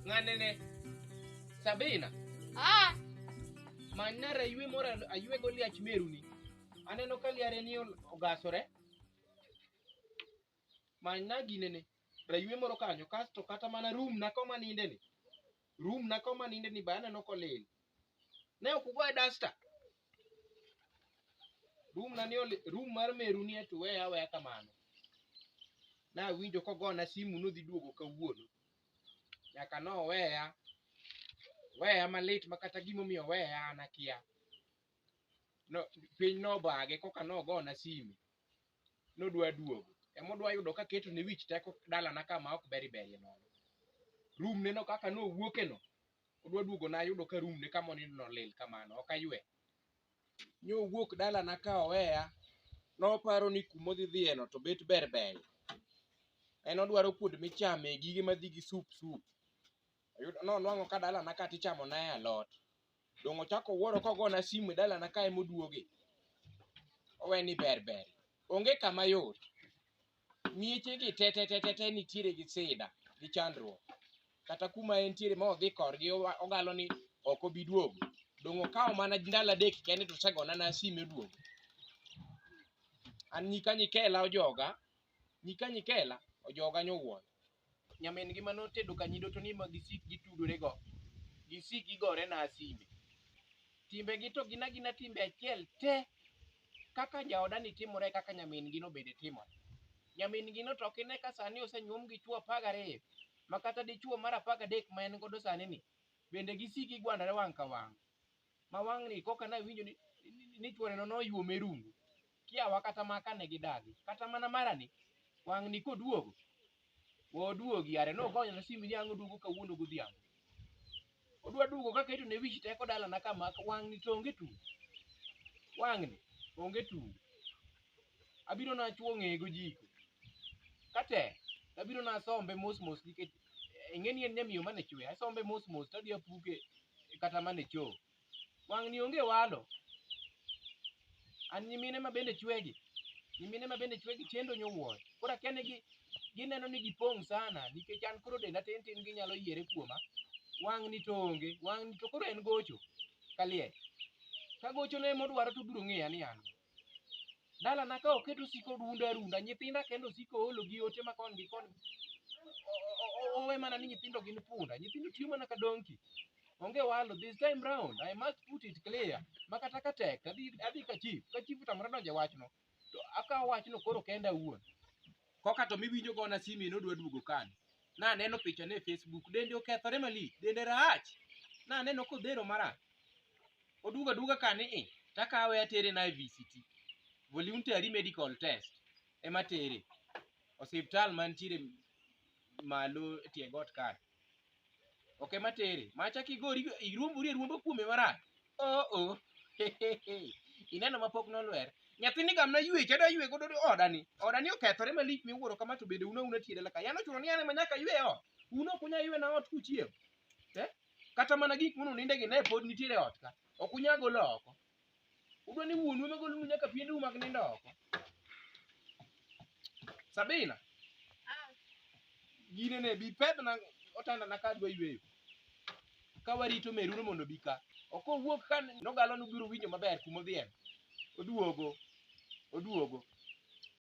Ng'anene. Sabina. Ah, Manyna raywe moro aywego liach meruni. Aneno ka liare ni ol- ogasore. Manyna ginene. Raywe moro kanyo kasto kata mana room na koma ninde ni. Room na koma ninde ni be aneno kolil. Ne ok ugoye duster. room na ni oli- room mar meru ni to we aweya kamano nawinjo kogona simu nodhi duogo kawuono nyaka noweya weya malit ma kata gimomiyo oweya an akia no, piny nobage koka nogona simu nodwa duogo emodwa yudo kaketo ne wich teko dalana kama ok beri berie nono room neno kaka nowuokeno pod waduogo nayudo ka room ne kama onindo nolil kamano ok aywe nyo owuok dalana ka oweya noparo ni kuma odhi dhiyeno to bet ber ber en odwaro kuonde michame gige madhi gi sup sup Oyudo- nonwang'o ka dalana ka tichamo nae alot dong' ochako wuoro kogona simu e dalana ka emoduoge owe ni ber ber onge kama yot Mieche gi te te te te te nitiere gi sida gi chandruok. Kata kuma entiere ma odhi korgi owa- ogalo ni ok obi duogo. Dongo kawo mana ndalo adek kende to osegona na sime duogo. An nyika nyikela ojoga, nyika nyikela ojoga nyowuon. nyamin-gi ma notedo kanyido to ni ma gisik gitudorego, gisik gigorena sime. Timbegi to gin agina timbe achiel te, kaka jaodani timore e kaka nyamin-gino bende timore. Nyamin-gino to ok ine ka sani osenyuom gi chwo apar gariyo, ma kata dichwo mar apar gadek ma en godo sanini, bende gisik gigwandore wang' ka wang'. ma wang'ni koka nawinjo ni, ni, ni chworeno noyuom e rungu kiawa kata ma kane gidagi kata mana marani wang'ni koduogo woduogi are nogonyona simu ni ang' oduogo kawuono godhiambo odwa duogo kaka ito ne wich teko dalana kama wang'ni to onge tung wang'ni onge tung abiro nachuo ng'eye gojiko katek abiro nasombe mos mos nikech eh, ing'e ni en nyamiyo mane chwe asombe mos mos tadhi apuke kata mane cho wang'ni onge walo an nyimine ma bende chwegi nyimine ma bende chwegi chendo nyowuoyo koro akia ni gi- gineno ni gipong' sana nikech an koro denda tin tin ginyalo yiere kuoma wang'ni to onge wang'ni to koro en gocho kaliel ka gochone modwaro to obiro ng'eya ni an Dalana ka oket osiko odunda arunda, nyithinda kende osiko oolo gi ote ma kon gi kon. O- o- o- Owe mana ni nyithindo gin punda, nyithindo tiyo mana ka donki. Onge walo, this time round, I must put it clear. Ma kata ka tek, adhi adhi ka chief, ka chief otamore donjo e wachno, to akawo wachno koro kenda awuon. Koka to miwinjo go na simi nodwa duogo kani. Na neno picha ne Facebook, dende okethore mali, dende rach. Na neno kodhero mara. Oduga duga kani i, takawe atere na VCT. Voluntary medical test. Ema tere. Osiptal mantiere malo tie got kani. ok ema tere macha kigori iruombori eruombo kuome marach oh oh ineno ma pok nolwer nyathini gamna ywe chado ywe godo odani odani okethore malich miwuoro kama to bende una una tiere laka yano chuno ni ane manyaka ywe ot uno kunya ywe na ot kuchiem eh kata mana gik mono ninde gi ne pod nitiere ot ka okunya golo oko Udwa ni wuonu ema golnu nyaka piende umak nindo oko. Sabina. Gine ne bi pedhna otanda na ka dwa yweyo. Ka warito meruno mondo bi ka. Ok owuok ka nogalo nubiro winjo maber kuma odhiye. Oduogo. Oduogo.